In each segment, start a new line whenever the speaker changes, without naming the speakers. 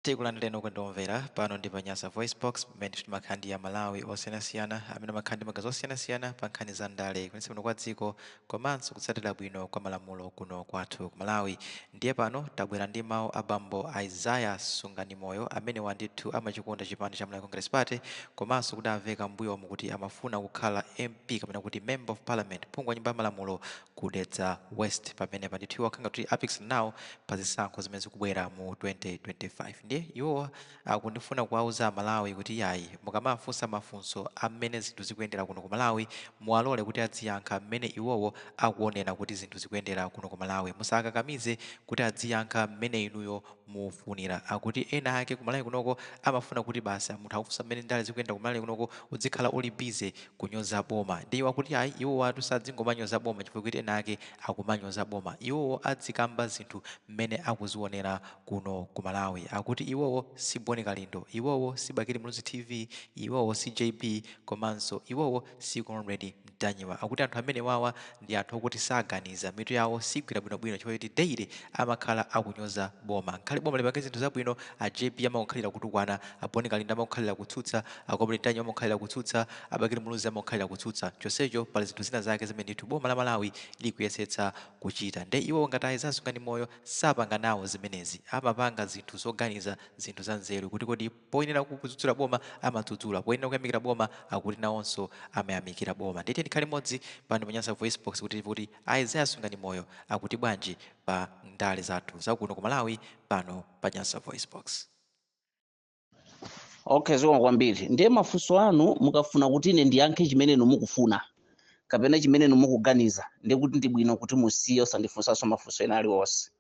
Tikulandireni okondedwa omvera pano ndi pa Nyasa Voicebox pamene timakhala ndi Amalawi osiyanasiyana amene amakhala ndi maganizo osiyanasiyana pa nkhani za ndale kuyendetsa bwino kwa dziko komanso kutsatira bwino kwa malamulo kuno kwathu ku Malawi. Ndiye pano tabwera ndi mawu a bambo Isaiah Sunganimoyo amenewa ndithu amachikonda chipani cha Malawi Congress Party komanso kudamveka m'mbuyomu kuti amafuna kukhala MP kapena kuti Member of Parliament, phungu wa nyumba ya malamulo ku Dedza West pamenepa ndithu iwo akunga kuti apikisana nawo pa zisankho zimene zikubwera mu 2025 ndiye iwowa akungofuna kuwauza amalawi kuti iyayi mukamawafunsa mafunso a mmene zinthu zikuyendera kuno ku malawi muwalole kuti adziyankha mmene iwowo akuonera kuti zinthu zikuyendera kuno ku malawi musawakakamize kuti adziyankha mmene inuyo mukufunira. Akuti ena ake ku Malawi kunoko amafuna kuti basi munthu akakufunsa mmene ndale zikuyendera ku Malawi kunoko udzikhala uli busy kunyoza boma. Ndiye iwo akuti ayi iwowatu sadzingomanyoza boma chifukwa choti ena ake akumanyoza boma. Iwowo adzikamba zinthu mmene akuzionera kuno ku Malawi. Akuti iwowo si Boni Kalindo, iwowo si Bakili Muluzi TV, iwowo si JB komanso iwowo si comrade mtanyiwa akuti anthu amene wawa ndi anthu okuti saganiza mitu yawo sigwira bwinobwino chifukwa choti daily amakhala akunyoza boma ngakhale boma lipange zinthu zabwino a jb amakukhalira kutukwana a boni kalindo amakukhalira kutsutsa a comrade mtanyiwa amakukhalira kutsutsa a bakili muluzi amakukhalira kutsutsa chonsecho pali zinthu zina zake zimene ndithu boma la malawi likuyesetsa kuchita nde iwo ngati a isaiah sunganimoyo sapanga nawo zimenezi amapanga zinthu zoganiza zinthu za nzeru kuti kodi Poyenera kudzudzula boma amadzudzula, poyenera kuyamikira boma akuti nawonso amayamikira boma. Ndiye tiyeni tikhale limodzi pano pa Nyasa VoiceBox kuti timve kuti a Isaiah Sunganimoyo akuti bwanji pa ndale zathu za kuno ku Malawi pano pa Nyasa VoiceBox.
Okay, zikomo kwambiri. Ndiye mafunso anu mukafuna kuti ine ndiyankhe chimene inu mukufuna kapena chimene inu mukuganiza, ndiye kuti ndi bwino kuti musiye osandifunsanso mafunso ena aliwonse.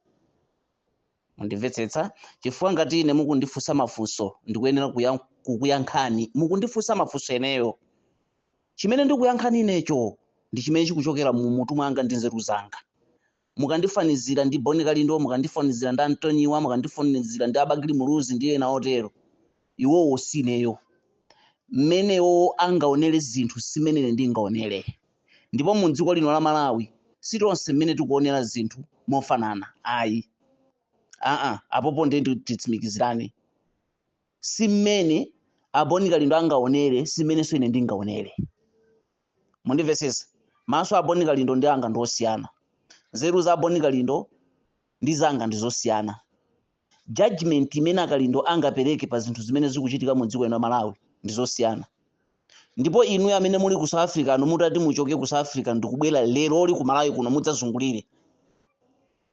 Mundimvetsetsa? Chifukwa ngati ine mukundifunsa mafunso, ndikuyenera kukuyankhani. Mukundifunsa mafunso ineyo. Chimene ndikuyankhani inecho ndi chimene chikuchokera mu mutu mwanga ndi nzeru zanga. Mukandifanizira ndi Boni Kalindo, mukandifanizira ndi a Ntanyiwa, mukandifanizira ndi a Bakili Muluzi ndi ena otero, iwowo si ineyo. Mmene iwowo angaonere zinthu si mmene ine ndingaonere. ndipo mu dziko lino la Malawi si tonse amene tikuonera zinthu mofanana ayi aa apopo ndiye ndi- titsimikizirane si mmene a boni kalindo angaonere si mmenenso ine ndingaonere mundimvesesa maso a boni kalindo ndi anga ndi osiyana nzeru za boni kalindo ndi zanga ndi zosiyana judgment imene a Kalindo angapereke pa zinthu zimene zikuchitika mu dziko lino la malawi ndi zosiyana ndipo inuyo amene muli ku south africano mutati muchoke ku south africa ndikubwera lerolo ku malawi kuno mudzazungulire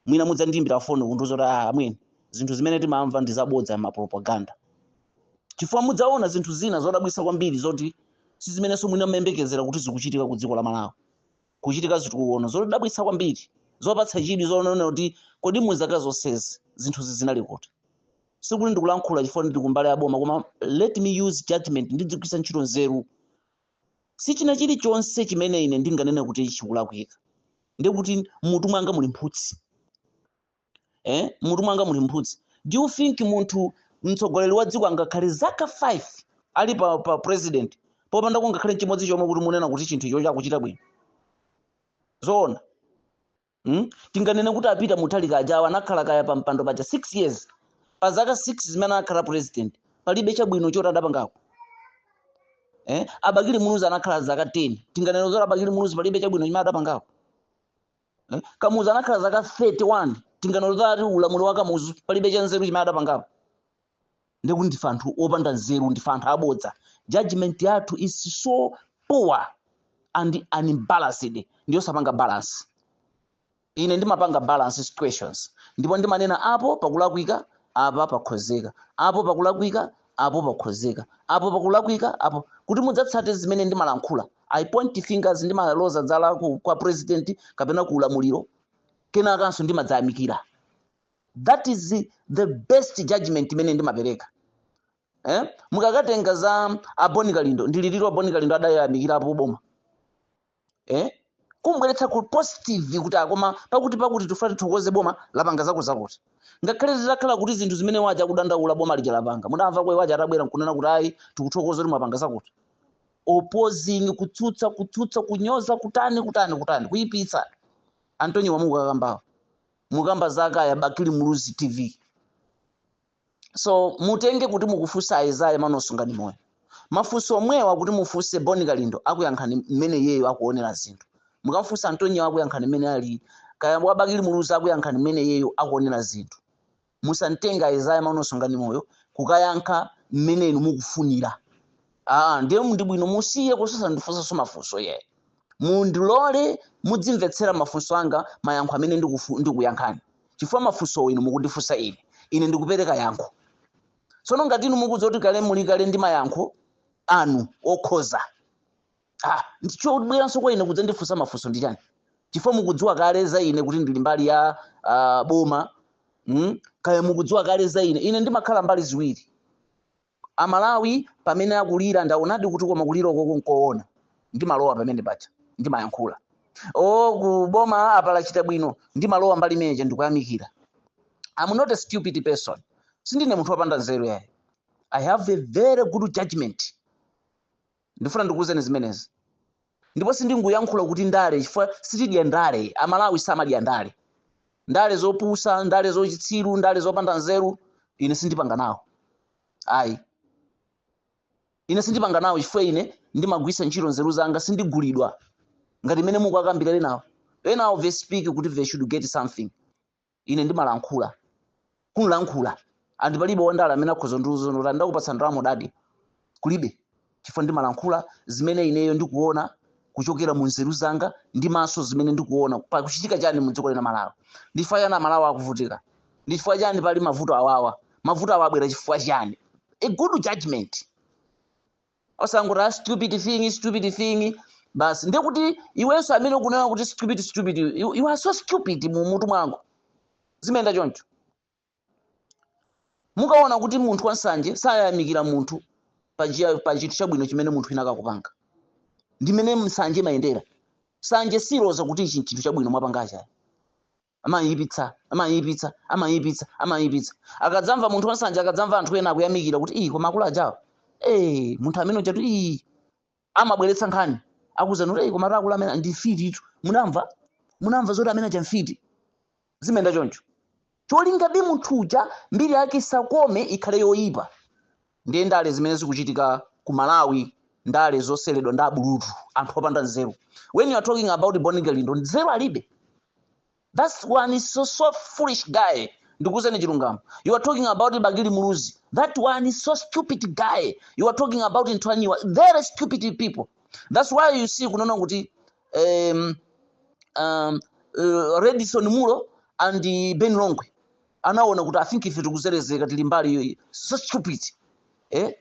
mwina mudzandiimbira foni kundiuza kuti "Ah, amwene zinthu zimene timamva ndi zabodza mapropaganda chifukwa mudzaona zinthu zina zodabwitsa kwambiri zoti si zimenenso mwina mmayembekezera kuti zikuchitika ku dziko la malawi kuchitika zitukuko zodabwitsa kwambiri zopatsa chidwi zonena kuti kodi mu zaka zonsezi zinthuzi zinali kuti sikuti ndikulankhula chifukwa ndili kumbali ya boma koma let me use judgment ndidzigwiritsa ntchito nzeru si china chilichonse chimene ine ndinganene kuti chikulakwika ndiye kuti mmutu mwanga muli mphutsi eh? mmutu mwanga muli mphutsi do you think munthu mtsogoleri wa dziko angakhale zaka 5 ali pa, pa president popanda kungakhale chimodzi chomwe kuti munena kuti chinthu icho chakuchita bwino zoona mm? tinganene kuti a Peter Mutharika ajawa anakhala kaya pa mpando paja 6 years pa zaka 6 zimene anakhala president palibe chabwino choti adapangako eh? a Bakili muluzi anakhala zaka 10 tinganene zoti a Bakili muluzi palibe chabwino chimene adapangako Eh? kamuzu anakhala zaka 31 tinganene zoti ulamuliro wa kamuzu palibe cha nzeru chimene adapangapo ndiye kuti ndife anthu opanda nzeru ndife anthu abodza judgment yathu is so poor and unbalanced ndiyosapanga balance ine ndimapanga balance situations ndipo ndimanena apo pakulakwika apa pakhozeka apo pakulakwika apo pakhozeka, apo pakulakwika, apo, kuti mudzatsate zimene ndimalankhula. I point fingers, ndimaloza zala ku, kwa president kapena ku ulamuliro, kenakanso ndimadzayamikira. That is the best judgment imene ndimapereka. Eh? Mukakatenga za a Boni Kalindo, ndi liti lomwe a Boni Kalindo adayamikirapo boma. eh? kumbweretsa ku positive kuti ah koma pakuti pakuti tifuna tithokoze boma lapanga zakutizakuti ngakhale zitakhala kuti zinthu zimene waja akudandaula boma lija lapanga mudamvako awaja atabwera nkunena kuti ayi tikuthokoza kuti mwapanga zakuti opposing kutsutsa kutsutsa kunyoza kutani kutani kutani kuyipitsa antonio amukukambawo mukamba za akaya bakili muluzi tv so mutenge kuti mukufunsa Isaiah Emmanuel Sunganimoyo mafunso omwewa kuti mufunse boni kalindo akuyankhani mmene iyeyo akuonera zinthu mukamfunsa antonio akuyankhani mmene ali kaya wabakili muluzi akuyankhani mmene iyeyo akuonera zinthu musanditenge Isaiah Emmanuel Sunganimoyo kukayankha mmene inu mukufunira aa ndiye ndi bwino musiye kuti osandifunsanso mafunso eya mundilole mudzimvetsera mafunso anga mayankho amene ndikufu- ndikuyankhani chifukwa mafunso inu mukundifunsa ine ine ndikupereka yankho tsono ngati inu mukudziwa kuti kale muli kale ndi mayankho anu okhoza ndiye chobweranso kwa ine kudzandifunsa mafunso ndi chani chifukwa mukudziwa kale za ine kuti ndili mbali ya uh, boma mm? kaya mukudziwa kale za ine ine ndimakhala mbali ziwiri Amalawi pamene akulira ndaonadi kuti koma kulira ukoko nkoona ndimalowa pamene paja ndimayankhula oo ku boma apa lachita bwino ndimalowa mbali imene ija ndikuyamikira I'm not a stupid person sindine munthu wopanda nzeru yayi I have a very good judgment ndifuna ndikuwuzeni zimenezi ndipo sindingoyankhula kuti ndale chifukwa sitidya ndale amalawi samadya ndale ndale zopusa ndale zochitsiru ndale zopanda nzeru ine sindipanga nawo ayi ine sindipanga nawo chifukwa ine ndimagwisa ntchito nzeru zanga sindigulidwa ngati mmene mukakambira enawo enawo they speak kuti they should get something Ine ndimalankhula, kunlankhula, and palibe wandale amene akhoza kundiuza kuti ndakupatsa ndalama udadya. Kulibe. Chifukwa ndimalankhula zimene ineyo ndikuona kuchokera mu nzeru zanga ndi maso zimene ndikuona pakuchitika chani mu dziko lino la Malawi. Ndi chifukwa chani Amalawi akuvutika? Ndi chifukwa chani pali mavuto awawa? Mavuto awa abwera chifukwa chani? A good judgment. osangoti a stupid thing stupid thing basi ndiye kuti iwenso amene ukunena kuti stupid stupid you, you are so stupid mu mutu mwako zimayenda choncho mukaona kuti munthu wansanje sayamikira munthu pa njia- pa chinthu chabwino chimene munthu winawake akupanga ndi mmene nsanje imayendera nsanje siloza kuti ichi chinthu chabwino mwapangachi ayi Amayipitsa, amayipitsa, amayipitsa, amayipitsa. Akadzamva munthu wansanje, akadzamva anthu ena akuyamikira kuti ii koma akulu ajawa, ee munthu amene ujatu ii amabweretsa nkhani akuuzani kuti ee koma akulu amene ndi mfititu, munamva munamva zoti amene aja mfiti, zimayenda choncho cholingabe munthu uja mbiri yake isakome ikhale yoyipa. Ndiye ndale zimene zikuchitika ku Malawi ndale zoseweredwa ndi abulutu anthu opanda nzeru. When you are talking about Bon Kalindo nzeru alibe. That's one is so, so foolish guy. Ndikuuzeni chilungamo. You are talking about Bakili Muluzi. That one is so stupid guy. You are talking about Ntanyiwa. Very stupid people. That's why you see munaona kuti um, um, uh, Redson Munlo and uh, Ben Longwe. anaona kuti i think ife tikuzelezeka tili mbali iyo so stupid eh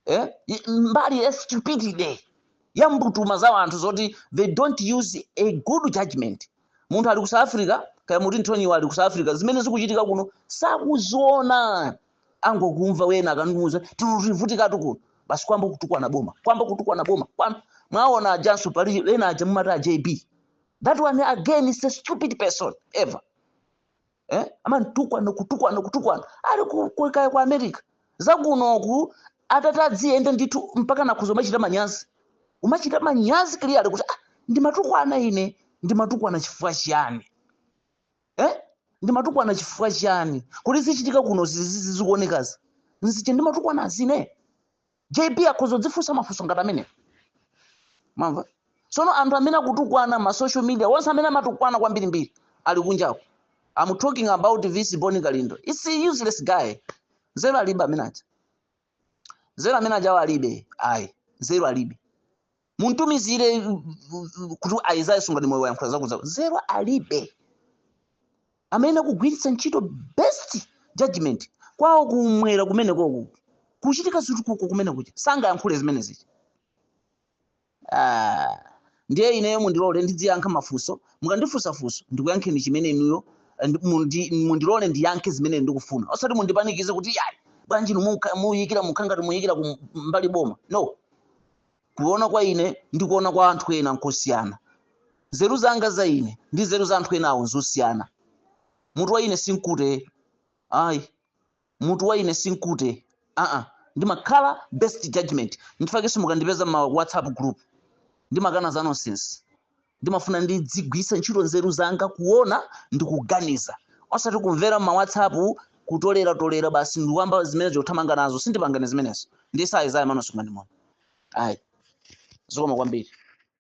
eh I- mbali ya stupidity ya mbutuma za anthu zoti they don't use a good judgment munthu ali ku south africa kaya muti ntanyiwa ali ku south africa zimene zikuchitika kuno sakuziona angokumva wena akamuuza tikuvutikatu kuno basi kwamba kutukwana boma kwamba kutukwana boma kwamba mwaona ajanso pali ena aja mumati a jb that one again is a stupid person ever eh? amanditukwana kutukwana kutukwana ali ku- ku- kaya ku america zakunoku atati adziyenda ndithu mpaka nakhuza umachita manyazi umachita manyazi clearly kuti ah, ndimatukwana ine ndimatukwana chifukwa chiyani eh? ndimatukwana chifukwa chiyani kodi zichitika kuno zizi- zizi- zikuonekazi nzichani ndimatukwanazi ine jb akhoza kudzifunsa mafunso ngati amene mamva tsono anthu amene akutukwana ma social media onse amene amatukwana kwambirimbiri ali kunjako i'm talking about this Boni kalindo its a useless guy nzeru alibe amene aja nzeru amene ajawo alibe ayi nzeru alibe muntumizire kuti Isaiah Sungani moyo wayankhula zakuza nzeru alibe amene akugwiritsa ntchito best judgment kwawo kumwera kumeneko ku kuchitika zitukuko kumene kuja sangayankhule zimene zija Ah, ndiye ineyo mundilole ndidziyankha mafunso mukandifunsa funso ndikuyankheni chimene inuyo eh, ndi- mundi- mundilole ndiyankhe zimene ndikufuna osati mundipanikize kuti yayi bwanji inu muka- muyikira mukhangati muyikira ku mbali boma no Kuona kwa ine ndi kuona kwa anthu ena nkosiyana. Nzeru zanga za ine ndi nzeru za anthu enawo nzosiyana. Mutu wa ine si mkute. Ayi. Mutu wa ine si mkute. Aa, ndimakhala best judgment. Nchifukwa chake simungandipeze m'ma WhatsApp group. Ndimakana za nonsense. ndimafuna ndidzigwiritsa ntchito nzeru zanga kuona ndi kuganiza osati kumvera m'ma whatsapp kutolera tolera basi ndiwamba zimene zothamanga nazo sindipanga ine zimenezo ndi size ayi mano sikumandimona ayi zikomo kwambiri